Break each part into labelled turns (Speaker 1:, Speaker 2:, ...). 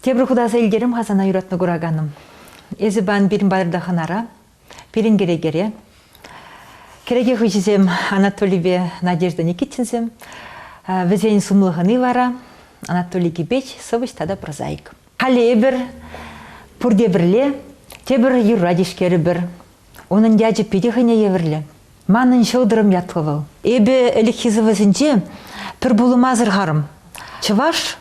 Speaker 1: Тепӗр хутаса илтерем-ха сана юратма кураканӑм. Эсӗ пан пирӗн патӑрта хӑнара, пирӗн кӗрекере. Кӗреке хыҫӗсем Анатолийпе Надежда Никитинсем. Вӗсен сумлӑхӑни вара Анатолий Кипеч, сӑвӑҫ тата прозаик. Халӗ эпир пурте пӗрле тепӗр юрра тишкерӗпӗр. Унӑн ячӗ питӗ хӑйне евӗрлӗ. Манӑн ҫӑлтӑрӑм ятлӑ вӑл. Эпӗ ӗлӗкхи сӑвӑсенче пӗр пулӑма асӑрхарӑм. Чӑваш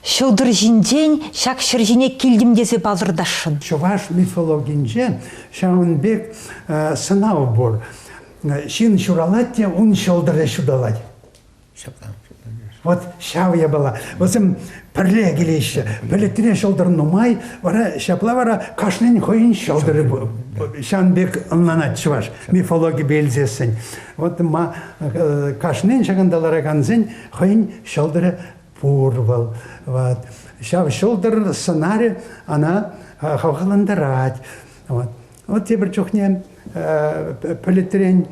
Speaker 1: ҫӑлтӑр ҫинчен ҫак ҫӗр ҫине килтӗм тесе палӑртасшӑн. Чӑваш
Speaker 2: мифологинче ҫавӑн пек сӑнав пур. Ҫын ҫуралать те ун ҫӑлтӑрӗ ҫуталать. Вот ҫав япала. Вӗсем пӗрле килеҫҫӗ. Пӗлӗтре ҫӑлтӑр нумай, вара ҫапла вара кашнин хӑйӗн ҫӑлтӑрӗ ҫан пек ӑнланать чӑваш мифологипе илсессӗн. Вот ма э, кашнин ҫакӑнта ларакансен хӑйӗн ҫӑлтӑрӗ пур вӑл. Вот. Ҫав ҫӑлтӑр сӑнарӗ ана хавхалантарать. Вот. Вот тепӗр чухне пӗлӗтрен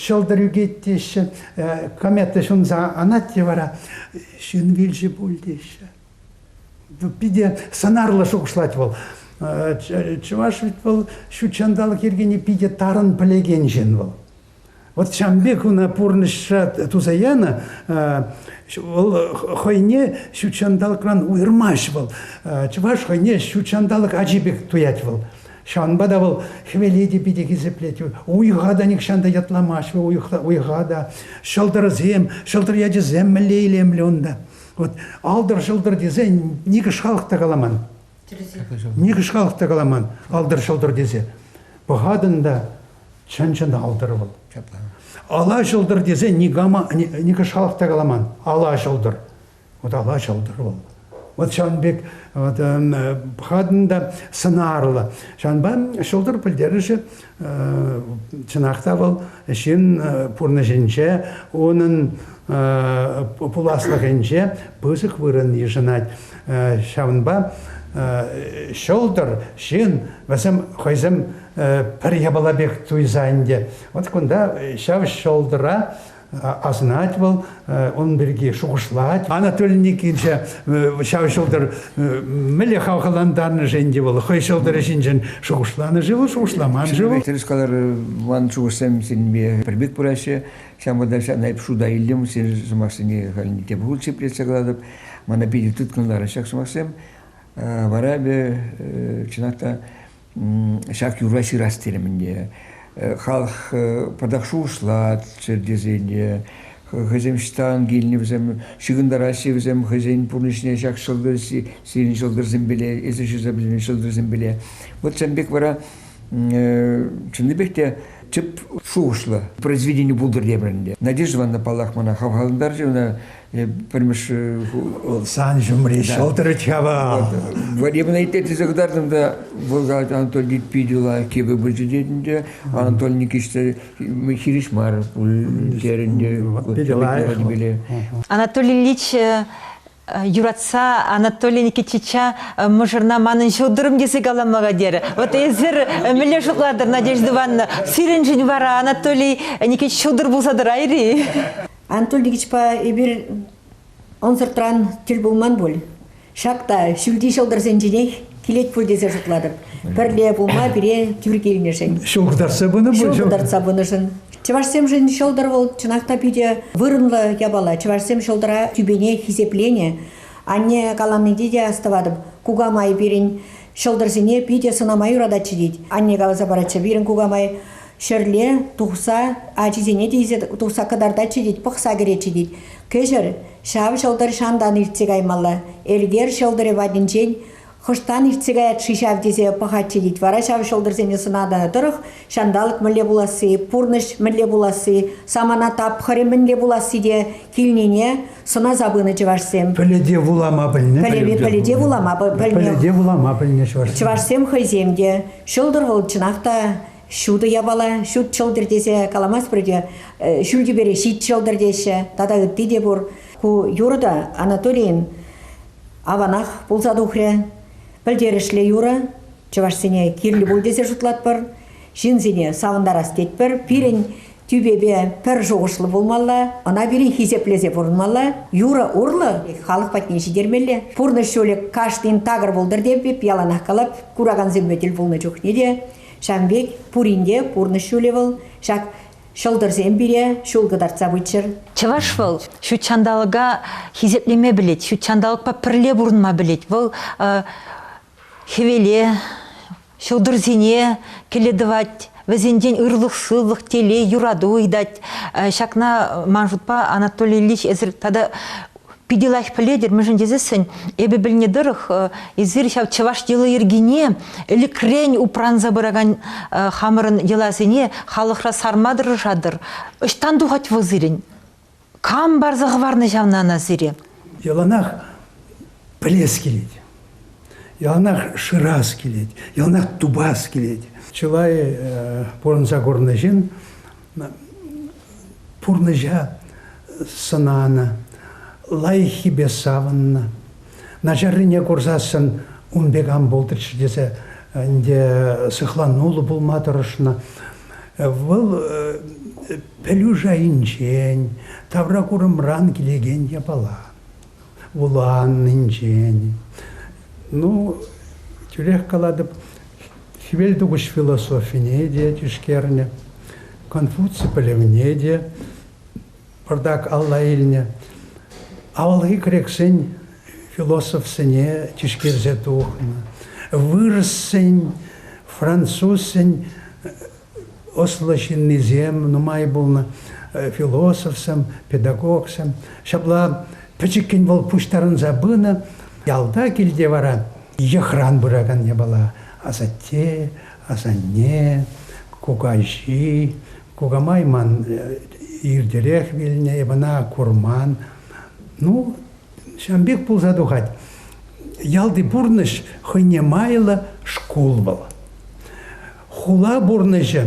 Speaker 2: ҫӑлтӑр ӳкет теҫҫӗ, комета ҫунса анать те вара ҫын вилчӗ пуль теҫҫӗ. Питӗ сӑнарлӑ шухӑшлать вӑл. Чӑваш вӗт вӑл ҫут ҫанталӑк йӗркине питӗ тарӑн пӗлекен ҫын вӑл. Вот ҫавӑн пек ӑна пурнӑҫра туса янӑ, вӑл хӑйне ҫут ҫанталӑкран уйӑрмасть вӑл. Чӑваш хӑйне ҫут ҫанталӑк ачи пек туять вӑл. Ҫавӑнпа та вӑл хӗвеле те питӗ хисеплет. Уйӑха та нихҫан та ятламасть уйӑхта, уйӑха та. Ҫӑлтӑрсем, ҫӑлтӑр ячӗсем мӗнле илемлӗ унта. Вот алтӑр-ҫӑлтӑр тесен никӗш халӑх та каламан. Никӗш халӑх та каламан алтӑр-ҫӑлтӑр тесе. Пӑхатӑн та Чӑн-чӑн алтӑр вӑл. Ала ҫӑлтӑр тесе никама, никӑш халӑх та каламан. Ала ҫӑлтӑр. Вот ала ҫӑлтӑр вӑл. Вот ҫавӑн пек вот, эм, пӑхатӑн та сӑнарлӑ. Ҫавӑнпа ҫӑлтӑр пӗлтерӗшӗ чӑнах та вӑл ҫын пурнӑҫӗнче, унӑн пуласлӑхӗнче пысӑк вырӑн йышӑнать. Ҫавӑнпа ҫӑлтӑр, ҫын, вӗсем хӑйсем пӗр япала пек туйса ӗнтӗ. Вот кунта ҫав ҫӑлтӑра асӑнать вӑл, он пирки шухӑшлать. Анатолий Никитича ҫав ҫӑлтӑр мӗнле хавхалантарнӑ-ши ӗнтӗ вӑл? Хӑй ҫӑлтӑрӗ ҫинчен шухӑшланӑ-ши вӑл, шухӑшламан-ши вӑл? Тӗрӗс калар,
Speaker 3: ман шухӑшсем сирӗнпе пӗр пек пыраҫҫӗ. Ҫавӑнпа та ҫавна эп шута илтӗм. Сир сӑмахсене халь тем хутче плетсе калатӑп. Мана питӗ тыткӑнларӑ ҫак сӑмахсем. Вара эпӗ, чӑнах та, Ҫак юрра ҫырас терӗм ӗнтӗ. Халӑх патак шухӑшлать чертесене. Хӑйсем ҫтан килнӗ вӗсем, ҫыхӑнтараҫҫӗ вӗсем хӑйсен пурнӑҫне ҫак ҫӑлтӑр, сирӗн ҫӑлтӑрсемпеле, эсир ҫырса пӗтӗмӗн ҫӑлтӑрсемпеле. Вот сан пек вара чӑннипех те тӗп шухӑшлӑ произведени пултӑр тепӗр ӗнтӗ. Надежда Ивановна, паллах, мана хавхалантарчӗ, ӑна пӗрмӗш вӑл
Speaker 2: сан ҫумри ҫӑлтӑр чава. Военный
Speaker 3: те тесе кӑтартӑм та вӑл Анатолий питӗ лайӑх кепе пулчӗ тетӗнче Анатолий Никитич хирӗҫ мар пуль терӗнче. Питӗ лайӑх.
Speaker 1: Анатолий Ильич юратса Анатолий Никитича мӑшӑрна манӑн ҫӑлтӑрӑм тесе калама терӗ. Вот эсир мӗнле шутлатӑр, Надежда Ивановна? Сирӗншӗн вара Анатолий Никитич ҫӑлтӑр пулса тӑрайрӗ-и? Анатолий
Speaker 4: Ильичпа эпир ӑнсӑртран тӗл пулман пуль. Ҫак та ҫӳлти ҫӑлтӑрсенченех килет пуль тесе шутлатӑп. Пӗрле пулма пире тӳр килнӗшӗн. Ҫул кӑтартса пынӑ пуль.
Speaker 2: Ҫул кӑтартса пынӑшӑн.
Speaker 4: Чӑвашсемшӗн ҫӑлтӑр вӑл чӑнах та питӗ вырӑнлӑ япала. Чӑвашсем ҫӑлтӑра тӳпене хисепленӗ. Анне каланипе те астӑватӑп. Кукамай пирӗн ҫӑлтӑрсене питӗ сӑнама юрататчӗ тет. Анне каласа паратчӗ, пирӗн кукамай Ҫӗрле тухса ачисене те илсе тухса кӑтартатчӗ тет, пӑхса кӗретчӗ тет. Кӗҫӗр ҫав ҫӑлтӑр ҫантан иртсе каймалла. Элкер ҫӑлтӑрӗ патӗнчен хӑштан иртсе каять-ши ҫав тесе пӑхатчӗ тет. Вара ҫав ҫӑлтӑрсене сӑнатӑн тӑрӑх ҫанталӑк мӗнле пуласси, пурнӑҫ мӗнле пуласси, самана тапхӑрӗ мӗнле пуласси те килнине сӑнаса пынӑ чӑвашсем. Пӗлӗте вулама
Speaker 2: пӗлнӗ. Пӗлӗве пӗлӗте вулама
Speaker 4: пӗлнӗ. Пӗлӗте вулама пӗлнӗ
Speaker 2: чӑвашсем. Чӑвашсем хӑйсем
Speaker 4: те ҫӑлтӑр вӑл чӑнах та ҫутӑ япала ҫут ҫӑлтӑр тесе каламасть пулӗ те ҫӳл тӳпере ҫит ҫӑлтӑр теҫҫӗ тата ытти те пур. Ку юрӑ та Анатолийӗн аванах пулса тухрӗ. Пӗлтерӗшлӗ юрӑ. Чӑвашсене кирлӗ пуль тесе шутлатпӑр. Ҫынсене савӑнтарас тетпӗр. Пирӗн тӳпепе пӗр шухӑшлӑ пулмалла, ӑна пирӗн хисеплесе пурӑнмалла. Юрӑ урлӑ халӑх патне ҫитермелле. Пурнӑҫ ҫулӗ кашнин такӑр пултӑр теп, яланах калап, куракансемпе тӗл пулнӑ чухне те Ҫавӑн пек пурин те пурнӑҫ ҫулӗ вӑл. Ҫак ҫӑлтӑрсем пире ҫул кӑтартса пыччӑр. Чӑваш вӑл
Speaker 1: ҫут ҫанталӑка хисеплеме пӗлет, ҫут ҫанталӑкпа пӗрле пурӑнма пӗлет. Вӑл хӗвеле, ҫӑлтӑрсене кӗле тӑвать, вӗсенчен ырлӑх-сывлӑх, телей, юрату ыйтать. Ҫакна, ман шутпа, Анатолий Ильич, эсир тата Питӗ лайӑх пӗлетӗр, мӗншӗн тесессӗн эпӗ пӗлнӗ тӑрӑх эсир ҫав чӑваш йӑли-йӗркине ӗлӗкрен упранса пыракан хамӑрӑн йӑласене халӑхра сарма тӑрӑшатӑр. Ӑҫтан тухать вӑл сирӗн? Кам парса хӑварнӑ ҫавна ӑна сире? Яланах
Speaker 2: пӗлес килет. Яланах шырас килет, яланах тупас килет. Чылай пурӑнса курнӑ ҫын пурнӑҫа сӑнанӑ, лайӑххипе савӑннӑ. Начаррине курсассӑн ун пек ан пултӑрччӗ тесе ӗнтӗ сыхлануллӑ пулма тӑрӑшнӑ. Вӑл пӗлӳ шайӗнчен, тавракурӑмран килекен япала. вуланнинчен. Ну, тӳрех калатӑп, хӗвел тухӑҫ философине те тишкернӗ, Конфуций пӗлӗвне те пӑртак алла илнӗ. Авалхи грексен философсене тишкерсе тухнӑ. Вырӑссен, французсен ӑслӑ ҫыннисем нумай пулнӑ, философсем, педагогсем. Ҫапла пӗчӗккӗн вӑл пуҫтарӑнса пынӑ. Ялта килте вара йӑхран пыракан япала асатте, асанне, кукаҫи, кукамай ман иртерех вилнӗ, эп ӑна курман. Ну, ҫавӑн пек пулса тухать. Ялти пурнӑҫ хӑйне майлӑ шкул вӑл. Хула пурнӑҫӗ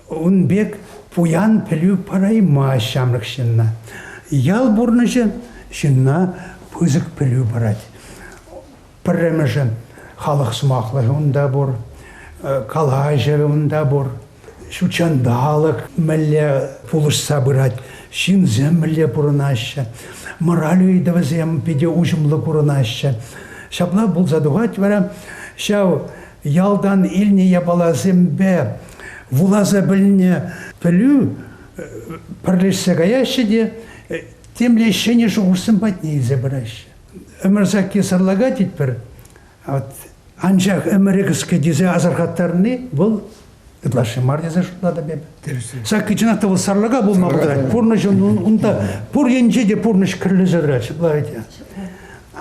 Speaker 2: ун пек пуян пӗлӳ параймасть ҫамрӑк ҫынна. Ял пурнӑҫӗ ҫынна пысӑк пӗлӳ парать. Пӗрремӗшӗ халӑх сӑмахлӑхӗ унта пур, э, калаҫӑвӗ унта пур. Ҫутҫанталӑк мӗнле пулӑшса пырать, ҫынсем мӗнле пурӑнаҫҫӗ, мораль ыйтӑвӗсем питӗ уҫӑмлӑ курӑнаҫҫӗ. Ҫапла пулса тухать вара ҫав ялтан илнӗ япаласемпе вуласа пӗлнӗ пӗлӳ пӗрлешсе каяҫҫӗ те темле ҫӗнӗ шухӑшсем патне илсе пыраҫҫӗ. Ӗмӗр сакки сӑрлака тетпӗр. От анчах ӗмӗрӗ кӗске тесе асӑрхаттарни вӑл ытлашши мар тесе шутлатӑп эп. Ҫакӑ чӑнах та вӑл сарлака пулма пултарать. Пурнӑҫӑн унта пур енче те пурнӑҫ кӗрлӗсӗр чӑплать.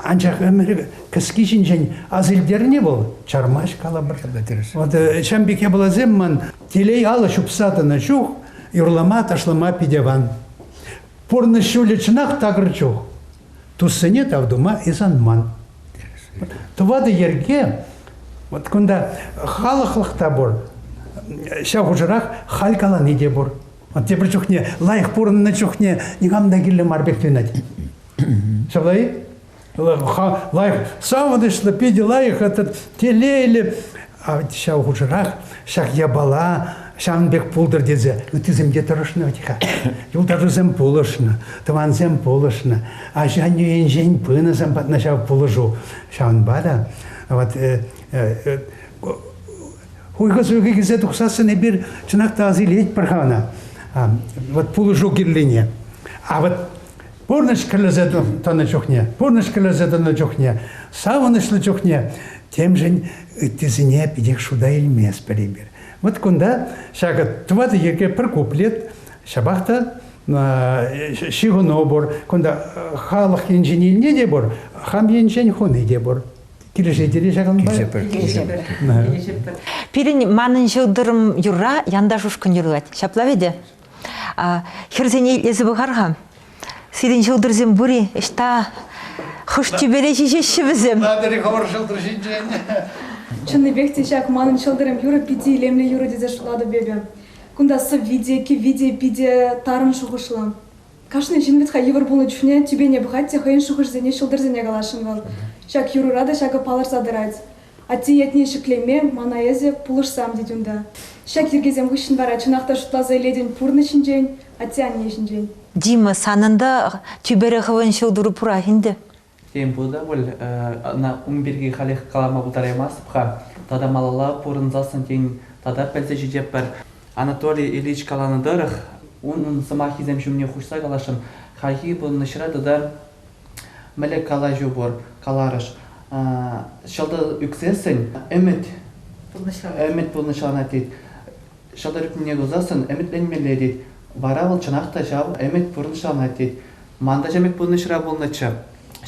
Speaker 2: Анчах ӗмӗр кӗски ҫинчен асилтерни вӑл чармасть калӑпӑр. Вот э, Чамбик япаласем ман телей алӑ ҫупса тӑнӑ чух юрлама, ташлама питӗ аван. Пурнӑҫ ҫулӗ чӑнах такӑр чух. туссене тав тума исанман. Тӑватӑ йӗрке, вот кунта халӑхлӑх та пур, ҫав хушӑрах халь калани те пур. Вот тепӗр чухне лайӑх пурӑннӑ чухне никам та кирлӗ мар пек туйӑнать. Ҫапла-и? Лайӑх, савӑнӑҫлӑ, питӗ лайӑх этот телейлӗ ҫав хушӑрах ҫак япала ҫавӑн пек пултӑр тесе ыттисем те тӑрӑшнӑ вӗт-ха. Юлташусем пулӑшнӑ, тӑвансем пулӑшнӑ, ача-аннӳ енчен пынӑсем патна ҫав пулӑшу. Ҫавӑнпа та вот, э, э, хуйхӑ-суйхӑ килсе тухсассӑн эпир чӑнах та асилетпӗр-ха ӑна. Вот пулӑшу кирлине. А вот пурнӑҫ кӗрлесе тӑнӑ чухне, пурнӑҫ кӗрлесе тӑнӑ чухне, савӑнӑҫлӑ чухне темшӗн ыттисене питех шута илместпӗр эпир. Вот кунта ҫакӑ тӑватӑ йӗрке пӗр куплет, ҫапах та ҫыхӑну пур, кунта халӑх енчен илни те пур, хам енчен хуни те пур. Килӗшетӗр-и ҫакӑнпа? Килӗшетпӗр.
Speaker 1: Пирӗн манӑн ҫӑлтӑрӑм юрра янташ ушкӑн юрлать. Ҫапла вӗт-и? Хӗрсене итлесе пӑхар-ха. Сирӗн ҫӑлтӑрсем пур-и? Ӑҫта? Хӑш тӳпере ҫиҫеҫҫӗ вӗсем? Натӑри хӑвӑр ҫӑлтӑр
Speaker 2: ҫинчен. Чӑннипех
Speaker 5: те ҫак манӑн ҫӑлтӑрӑм юрӑ питӗ илемлӗ юрӑ тесе шутлатӑп эпӗ. Кунта сӑвви те, кӗвви те питӗ тарӑн шухӑшлӑ. Кашни ҫын вӗт-ха йывӑр пулнӑ чухне тӳпене пӑхать те хӑйӗн шухӑшӗсене ҫӑлтӑрсене каласшӑн вӑл. Ҫак юрӑра та ҫакӑ палӑрса тӑрать. Атте ятне ҫӗклеме мана эсӗ пулӑшсам тет унта. Ҫак йӗркесем хыҫҫӑн вара чӑнах та шутласа илетӗн пурнӑҫ ҫинчен, атте-анне ҫинчен. Дима, санӑн
Speaker 1: та тӳпере хӑвӑн ҫӑлтӑру пурах ӗнтӗ. Тен пулӗ те
Speaker 6: пуль, ӑна ун пирки халех калама пултараймастӑп-ха. Тата малалла пурӑнсассӑн тен тата пӗлсе ҫитеппӗр. Анатолий Ильич каланӑ тӑрӑх, унӑн сӑмахӗсем ҫумне хушса каласшӑн, хайхи пурӑнӑҫра тата Мӗле калаҫу пур, каларӑш. Ҫӑлтӑр ӳксессӗн ӗмӗт ӗмӗт пурнӑҫланать тет. Ҫӑлтӑр ӳкнине тусассӑн ӗмӗтленмелле тет. Вара вӑл чӑнах та ҫав ӗмӗт пурнӑҫланать тет. Ман та ҫав ӗмӗт пурнӑҫра пулнӑччӗ.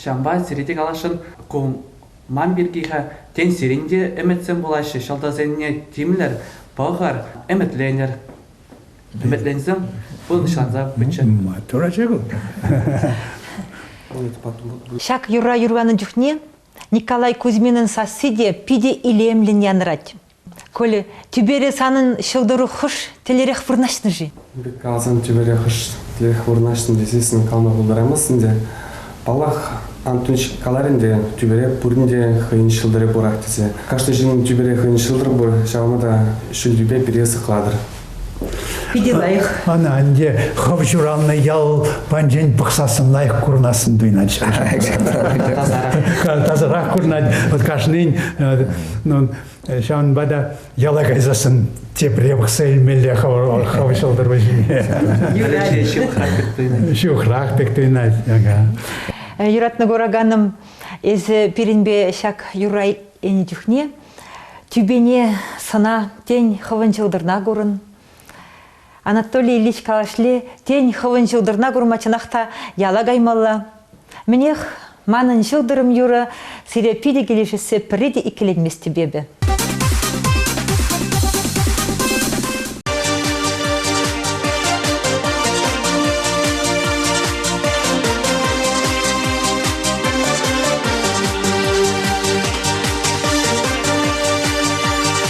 Speaker 6: Ҫавӑнпа сире те каласшӑн, ку ман пирки-ха. Тен, сирӗн те ӗмӗтсем пулаҫҫӗ, ҫӑлтӑрсене тимлӗр, пӑхӑр, ӗмӗтленӗр. Ӗмӗтленсем пӑнӑҫланса пыччӑр. Тураччӗ ку.
Speaker 1: Ҫак юрра юрланӑ чухне Николай Кузьминӑн сасси те питӗ илемлӗн янӑрать. Коля, тӳпере санӑн ҫӑлтӑру хӑш тӗлерех вырнаҫнӑ-ши? Каласан тӳпере
Speaker 7: хӑш тӗлех вырнаҫнӑ тесессӗн калма пултарамасть ӗнтӗ. Паллах, Антунч каларӗ ӗнтӗ, тӳпере пурин те хӑйӗн ҫӑлтӑрӗ пурах тесе. Кашни ҫын тӳпере хӑйӗн ҫӑлтӑр пур, ҫавна та ҫӳл тӳпе пире сыхлатӑр. Питӗ
Speaker 1: лайӑх. Ӑна ӗнтӗ
Speaker 2: хӑв ҫуралнӑ ял панчен пӑхсассӑн лайӑх курӑнассӑн туйӑнать. Тасарах курӑнать. Вот кашнин Ҫавӑнпа та яла кайсассӑн тепре пӑхса илмелле хӑв ҫӑлтӑр вӗҫне. Ҫухрах пек туйӑнать.
Speaker 1: Юратнӑ кураканӑм, эсӗ пирӗнпе ҫак юрра ӗнӗ чухне тӳпене сӑна, тен, хӑвӑн ҫӑлтӑрна курӑн. Анатолий Ильич калашле, тен, хӑвӑн ҫӑлтӑрна курма чӑнах та яла каймалла. Мӗнех, манӑн ҫӑлтӑрӑм юрӑ сире питӗ килӗшессе пӗрре те иккӗленместӗп эпӗ.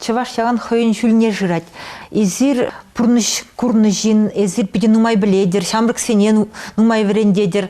Speaker 1: Чӑваш ялан хӑйӗн ҫулне шырать. Эсир пурнӑҫ курнӑ ҫын, эсир питӗ нумай пӗлетӗр, ҫамрӑксене нумай вӗрентетӗр.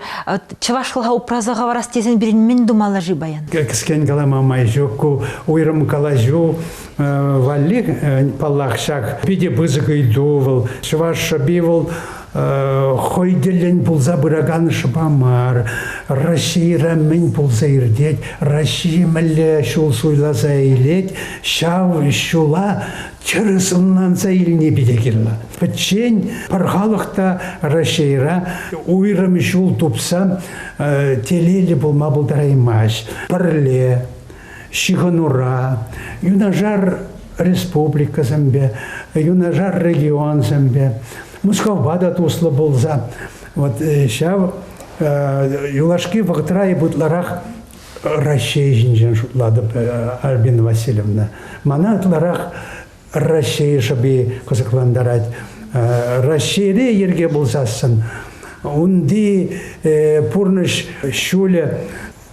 Speaker 1: Чӑвашлӑха упраса хӑварас тесен пирӗн мӗн тумалла-ши паян? Кӗскен калама
Speaker 2: май ҫук. Ку уйрӑм калаҫу валли, паллах, ҫак питӗ пысӑк ыйту вӑл. Чӑваш шӑпи вӑл хӑй тӗллӗн пулса пыракан шӑпа мар. Российӑра мӗн пулса иртет, Россия мӗнле ҫул суйласа илет, ҫав ҫула тӗрӗс ӑнланса илни питӗ кирлӗ. Пӗччен пӗр халӑх та Российӑра уйрӑм ҫул тупса телейлӗ пулма пултараймасть. Пӗрле ҫыхӑнура, юнашар республикӑсемпе, юнашар регионсемпе, Мускавпа та туслӑ пулса, вот э, ҫав э, юлашки вӑхӑтра ытларах Раҫҫей ҫинчен шутлатӑп, э, Альбина Васильевна. Мана ытларах Раҫҫей шӑпи кӑсӑклантарать. Раҫҫейре йӗрке пулсассӑн унти пурнӑҫ ҫулӗ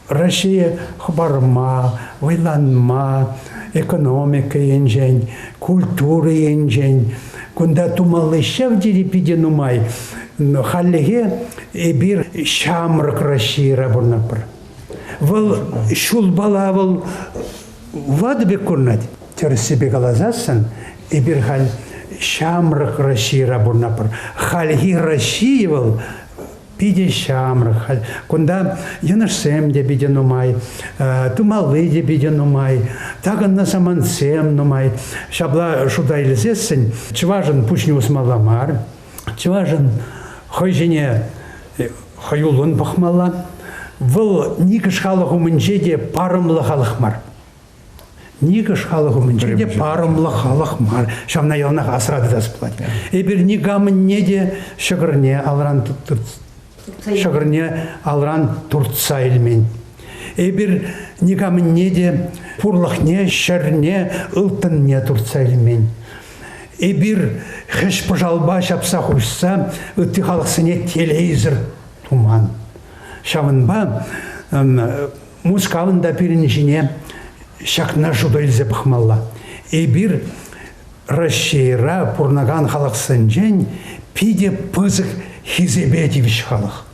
Speaker 2: Россия хӑпарма, вӑйланма, экономика енчен, культура енчен кунта тумалли ҫав тери питӗ нумай. Хальлӗхе эпир ҫамрӑк Российӑра пурӑнатпӑр. Вӑл ҫулпала вӑл ватӑ пек курӑнать. Тӗрӗссипе каласассӑн, эпир халь ҫамрӑк Российӑра пурӑнатпӑр. Хальхи Россия вӑл Питӗ ҫамрӑк. Кунта йӑнӑшсем те питӗ нумай, тумалли те питӗ нумай, такӑннӑ самантсем нумай. Ҫапла шута илсессӗн чӑвашӑн пуҫне усмалла мар. Чӑвашӑн хӑй ҫине хӑюллӑн пӑхмалла. Вӑл никӗс халӑх умӗнче те парӑмлӑ халӑх мар. Никӑш халӑх умӗнче те парӑмлӑ халӑх мар. Ҫавна яланах асра тытас пулать. Эпир никамӑнне те ҫӑкӑрне алран ҫӑкӑрне алран туртса илмен. Эпир никамӑнне те пурлӑхне, ҫӗрне, ылтӑнне туртса илмен. Эпир хӗҫ-пӑшалпа ҫапса хуҫса ытти халӑхсене телейсӗр туман. Ҫавӑнпа Мускавӑн та пирӗн ҫине ҫакна шута илсе пӑхмалла. Эпир Раҫҫейра пурӑнакан халӑхсенчен питӗ пысӑк хисепе тивӗҫ халӑх.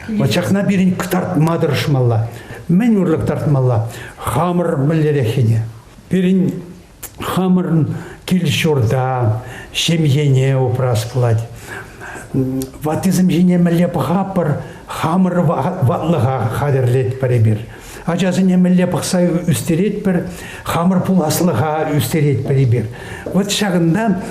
Speaker 2: Вот ҫакна пирӗн кӑтартма тӑрӑшмалла. Мӗн урлӑ кӑтартмалла? Хамӑр мӗнлереххине. Пирӗн Хамӑрӑн кил-ҫурта, ҫемьене упрас пулать. Ваттисем ҫине мӗнле пӑхапӑр, хамӑр ватлӑха хатӗрлетпӗр эпир. Ачасене мӗнле пӑхса ӳстеретпӗр, хамӑр пуласлӑха ӳстеретпӗр эпир. Вот ҫакӑнта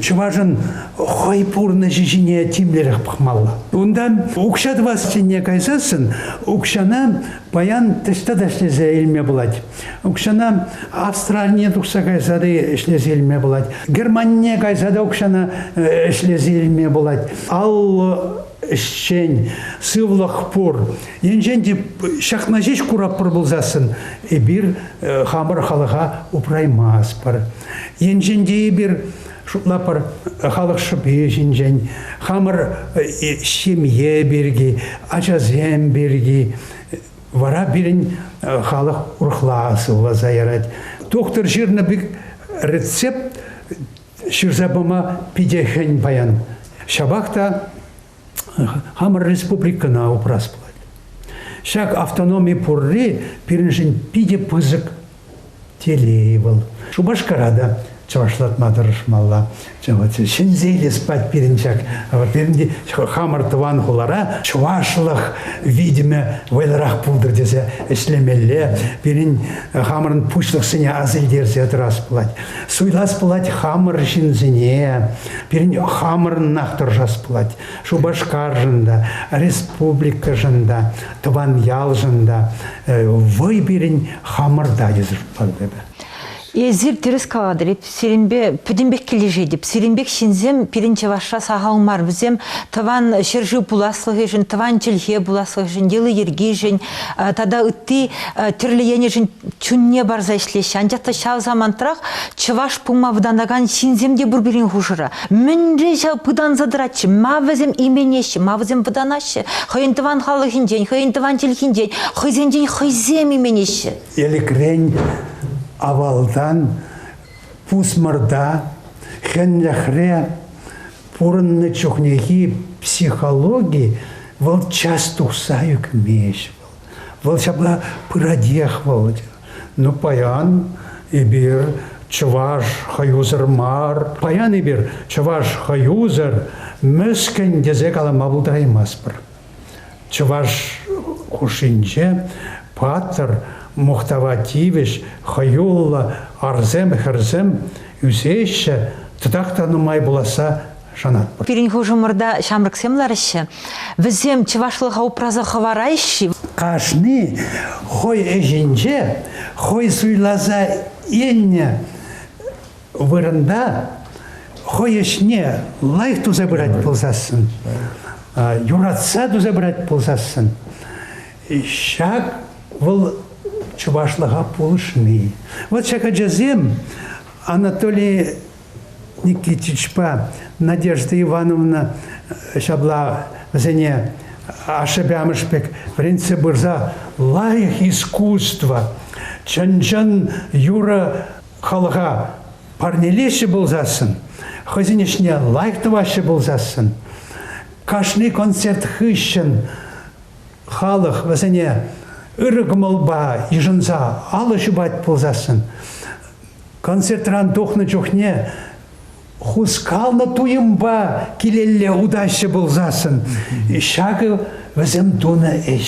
Speaker 2: чӑвашӑн хӑй пурнӑҫӗ ҫине тимлӗрех пӑхмалла. Унтан укҫа тӑвас тенне кайсассӑн укҫана паян таҫта та ӗҫлесе илме пулать. Укҫана Австранине тухса кайса та ӗҫлесе илме пулать. Германине кайса та укҫана э, ӗҫлесе илме пулать. Аллӑ ӗҫчен, сывлӑх пур. Енчен те ҫакна ҫеҫ куратпӑр пулсассӑн, эпир э, хамӑр халӑха упраймастпӑр. Енчен те эпир шутлапӑр халӑх шӑпи ҫинчен, хамӑр э, ҫемье пирки, ачасем пирки, Вара пирӗн халӑх урӑхла сывласа ярать. Тухтӑр ҫырнӑ пек рецепт ҫырса пама питӗ хӗн паян. Ҫапах та хамӑр республикӑна упрас пулать. Ҫак автономи пурри пирӗншӗн питӗ пысӑк Телей вӑл. Шупашкара та чӑвашлатма тӑрӑшмалла. Ҫӗнсе илес пирӗн ҫак пирӗн хамӑр тӑван хулара чӑвашлӑх витӗмӗ вӑйлӑрах пултӑр тесе ӗҫлемелле. Пирӗн хамӑрӑн пуҫлӑхсене аса илтерсе тӑрас пулать. Суйлас пулать хамӑр ҫынсене. Пирӗн хамӑрӑнах тӑрӑшас пулать. Шупашкаршӑн та, республикӑшӑн та, тӑван ялшӑн та вӑй пирӗн хамӑрта йӑсӑртпалла. Эсир
Speaker 1: тӗрӗс калатӑр, сирӗнпе пӗтӗмпех килӗшетӗп. Сирӗнпех ҫынсем пирӗн Чӑвашра сахал мар. Вӗсем тӑван ҫӗршыв пуласлӑхӗшӗн, тӑван чӗлхе пуласлӑхӗшӗн, йӑли-йӗркишӗн тата ытти тӗрлӗ енӗшӗн чунне парса ӗҫлеҫҫӗ. Анчах та ҫав самантрах чӑваш пулма вӑтанакан ҫынсем те пур пирӗн хушӑра. Мӗнле ҫав пытанса тӑратчӗ? Ма вӗсем именеҫҫӗ? Ма вӗсем вӑтанаҫҫӗ? Хӑйӗн тӑван халӑхӗнчен, хӑйӗн тӑван чӗлхинчен, хӑйсенчен хӑйсем именеҫҫӗ. Элӗкрен,
Speaker 2: авалтан, пусмӑрта, хӗнлӗхре пурӑннӑ чухнехи психологи вӑл час тухса ӳкмест. Вӑл ҫапла пыратех, Володя. Ну, паян эпир чӑваш хӑюсӑр мар, паян эпир чӑваш хӑюсӑр, мӗскӗн тесе калама пултараймастпӑр. Чӑваш хушшинче паттӑр, мухтава тивӗҫ, хӑюллӑ арсем-хӗрсем ӳсеҫҫӗ, тытах та нумай пуласса Шанатпӑр. Пирӗн хушӑмӑрта
Speaker 1: ҫамрӑксем лараҫҫӗ. Вӗсем чӑвашлӑха упраса хӑвараҫҫӗ. Кашни
Speaker 2: хӑй ӗҫӗнче хӑй суйласа илнӗ вырӑнта хӑй ӗҫне лайӑх туса пырать пулсассӑн, юратса туса пырать пулсассӑн, ҫак вӑл чӑвашлӑха пулӑшни. Вот ҫак ачасем Анатолий Никитичпа Надежда Ивановна ҫапла вӗсене ашшӗпе амӑшӗ пек вӗрентсе пырса лайӑх искусство, чӑн-чӑн юрӑ халӑха парнелеҫҫӗ пулсассӑн, хӑйсен ӗҫне лайӑх тӑваҫҫӗ пулсассӑн, кашни концерт хыҫҫӑн халӑх вӗсене ырӑ кӑмӑлпа йышӑнса алӑ ҫупать пулсассӑн, Концертран тухнӑ чухне хускалнӑ туйӑмпа килелле утаҫҫӗ пулсассӑн, ҫакӑ вӗсем тунӑ ӗҫ.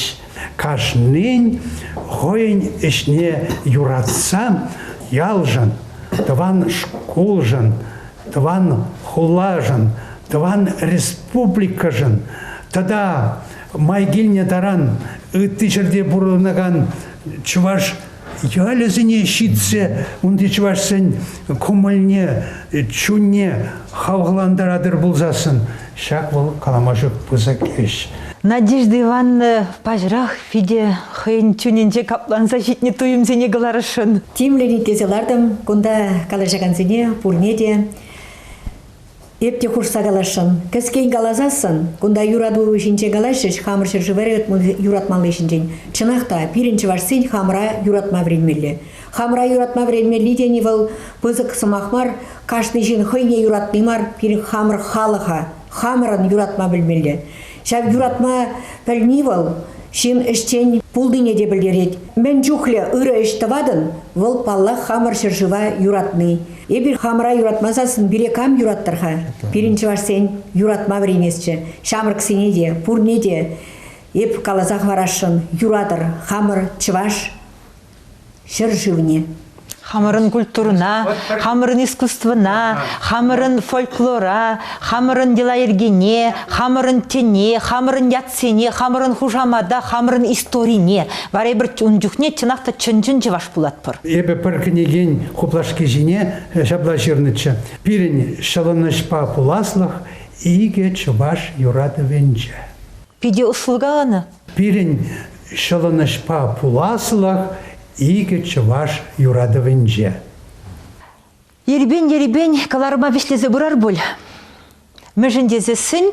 Speaker 2: Кашнин хӑйӗн ӗҫне юратса ялшӑн, тӑван шкулшӑн, тӑван хулашӑн, тӑван республикӑшӑн тата май килнӗ таран ытти ҫӗрте пурӑнакан чӑваш Ялӗсене ҫитсе унти чӑвашсен кӑмӑлне, чунне хавхалантаратӑр пулсассӑн ҫак вӑл калама пысӑк ӗҫ. Надежда Ивановна
Speaker 1: паҫӑрах Федя хӑйӗн чунӗнче капланса ҫитнӗ туйӑмсене кӑларасшӑн. Тимлӗн итлесе
Speaker 4: лартӑм кунта калаҫакансене, пурне те. Эп те хушса каласшӑн. Кӗскен каласассӑн, кунта юратуру ҫинче калаҫрӗҫ хамӑр ҫӗршыври юратмалли ҫинчен. Чӑнах та, пирӗн чӑвашсен хамӑра юратма вӗренмелле. Хамӑра юратма вӗренмелли тени вӑл пысӑк сӑмах мар, кашни ҫын хӑйне юратни мар, пирӗн хамӑр халӑха, хамӑрӑн юратма пӗлмелле. Ҫав юратма пӗлни вӑл ҫын ӗҫчен пулнине те пӗлтерет. Мӗн чухлӗ ырӑ ӗҫ тӑватӑн, вӑл, паллах, хамӑр ҫӗршыва юратни. Эпир хамӑра юратма сассӑн пире кам юраттӑр-ха? Пирӗн чӑвашсен юратма вӗренесчӗ. Ҫамрӑксене те, пурне те эп каласа хӑварасшӑн, юратӑр, хамӑр чӑваш ҫӗршывне. Хамӑрӑн
Speaker 1: культурӑна, хамӑрӑн искусствӑна, хамӑрӑн фольклора, хамӑрӑн йӑла-йӗркене, хамӑрӑн тӗне, хамӑрӑн ятсене, хамӑрӑн хушамата, хамӑрӑн историне, вара эпир ун чухне чӑнах та чӑн-чӑн чӑваш пулатпӑр. Эпӗ пӗр кӗнекен
Speaker 2: хуплашки ҫине ҫапла ҫырнӑччӗ, Пирӗн ҫӑлӑнӑҫпа пуласлӑх икӗ чӑваш юратӑвӗнче. Питӗ ӑслӑ
Speaker 1: каланӑ. Пирӗн
Speaker 2: ҫӑлӑнӑҫпа пуласлӑх икӗ чӑваш юратӑвӗнче. Ерипен-ерипен
Speaker 1: кӑларӑма вӗҫлесе пырар пуль. Мӗншӗн тесессӗн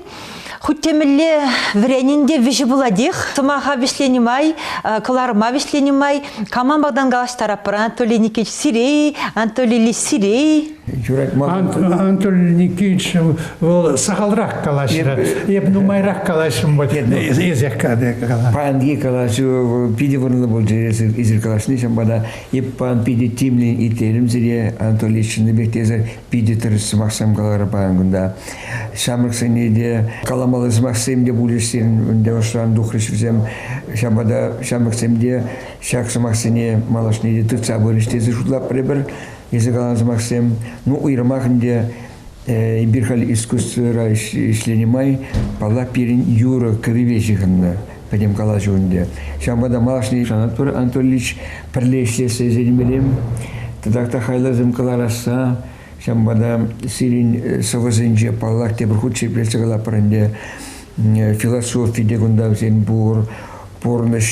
Speaker 1: хуть темӗнле вӗренӗн те вӗҫӗ пулатех. Сӑмаха вӗҫленӗ май, кӑларӑма вӗҫленӗ май, кама малтан калаҫтараппӑр? Анатолий Никитич Сирей, Анатолий Лисирей.
Speaker 3: Юрать Анатолий
Speaker 2: Никитич вӑл сахалрах калаҫрӗ. Эп нумайрах калаҫрӑм вот эсех калаҫу. Паянхи калаҫу
Speaker 3: питӗ вырӑнлӑ пулчӗ эсир калаҫни. Ҫавӑнпа та эп паян питӗ тимлӗн итлерӗм сире. Анатолий чӑннипех те эсӗр питӗ тӗрӗс сӑмахсем каларӑр паян кунта. Ҫамрӑксене те каламалли сӑмахсем те пулӗҫ сирӗн ӑшран тухрӗҫ вӗсем. Ҫавӑнпа та ҫамрӑксем те ҫак сӑмахсене малашне те тытса пырӗҫ тесе шутлап пӗрпӗр. Эсӗ каланӑ сӑмахсем, ну, уйрӑмах ӗнтӗ эпир халь искусствӑра ӗҫленӗ май, паллах, пирӗн юрӑ-кӗвӗпе ҫыхӑннӑ пӗтӗм калаҫу ӗнтӗ. Ҫавӑнпа та малашне Анатолий Анатольевич пӗрле ӗҫлессе ӗненмеллем. Тата та хайласем кӑларасса, ҫавӑнпа та сирӗн сӑвӑсенче, паллах, тепӗр хут ҫирӗплетсе калаппӑр ӗнтӗ, философи те кунта вӗсен пур, пурнӑҫ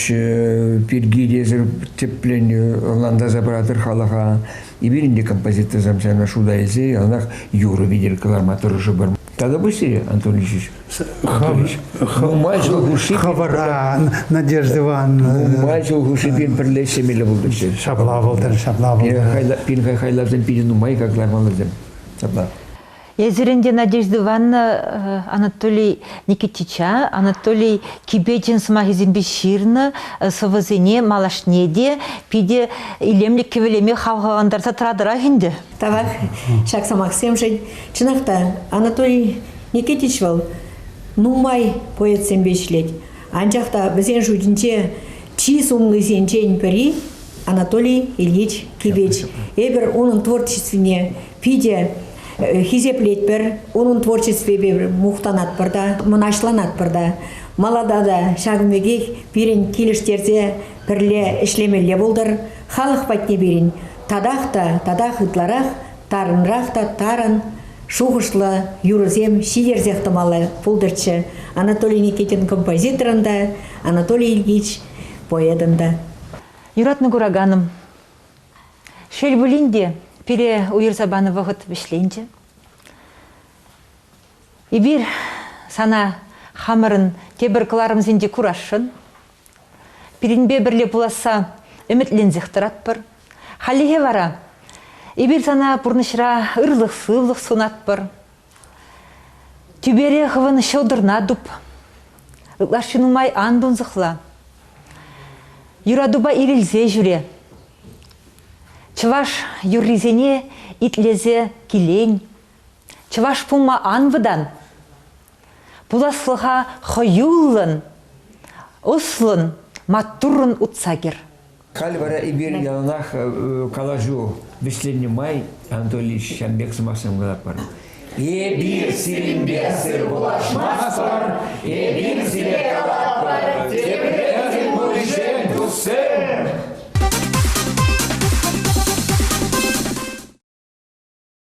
Speaker 3: пирки те эсир тӗплӗн ӑнлантарса пыратӑр халӑха. Эпир те композиторсем сана шута илсе яланах юрӑ витӗр кӑларма тӑрӑшӑпӑр. Тата пуҫ сире, Антон Ильич. Нумай ҫул
Speaker 2: хушши хӑвӑран, Надежда Ивановна. Нумай ҫул хушши пирӗн
Speaker 3: пӗрле ӗҫлемелле пултӑччӗ. Ҫапла пултӑр,
Speaker 2: ҫапла пултӑр. Пирӗн хайлавсем
Speaker 3: питӗ нумай как кӑлармаллисем. Ҫапла. Эсир ӗнтӗ,
Speaker 1: Надежда Ивановна, э, Анатолий Никитича, Анатолий Кипечин сӑмахӗсемпе ҫырнӑ э, сӑвӑсене малашне те питӗ илемлӗ кӗвӗлеме хавхалантарса тӑратӑрах ӗнтӗ. Тавах
Speaker 4: ҫак сӑмахсемшӗн. Чӑнах та, Анатолий Никитич вӑл нумай поэтсемпе ӗҫлет. Анчах та вӗсен шутӗнче чи сумлисенчен пӗри Анатолий Ильич Кипеч. Эпир унӑн творчествине питӗ хисеплетпӗр, унӑн творчествипе мухтанатпӑр та, мӑнаҫланатпӑр та. Малада та ҫакӑн пекех пирӗн килӗштерсе пӗрле ӗҫлемелле пултӑр, халӑх патне пирӗн татах та, татах ытларах, тарӑнрах та тарӑн шухӑшлӑ юрӑсем ҫитерсех тӑмалла пултӑрччӗ Анатолий Никитин композиторӑн та, Анатолий Ильич поэтӑн та. Юратнӑ
Speaker 1: кураканӑм, Шел пулин те, пире уйӑрса панӑ вӑхӑт вӗҫленчӗ. Эпир сана хамӑрӑн тепӗр кӑларӑмсенче курасшӑн. Пирӗнпе пӗрле пуласса ӗмӗтленсех тӑратпӑр. Хальлӗхе вара эпир сана пурнӑҫра ырлӑх-сывлӑх сунатпӑр. Тӳпере хӑвӑн ҫӑлтӑрна туп. Ытлашши нумай ан тунсӑхла. Юратупа ирӗлсе ҫӳре. Чӑваш юррисене итлесе килен. Чӑваш пулма ан вӑтан. Пуласлӑха хӑюллӑн, ӑслӑн, маттуррӑн утса кӗр. Халь вара
Speaker 3: эпир яланах калаҫу вӗҫленнӗ май, Анатолий, ҫавӑн пек сӑмах сӑнкӑлатпӑр. Эпир сирӗнпе сыр пулашмастпӑр, эпир сире калатпӑр, тепре пуринчен туссем!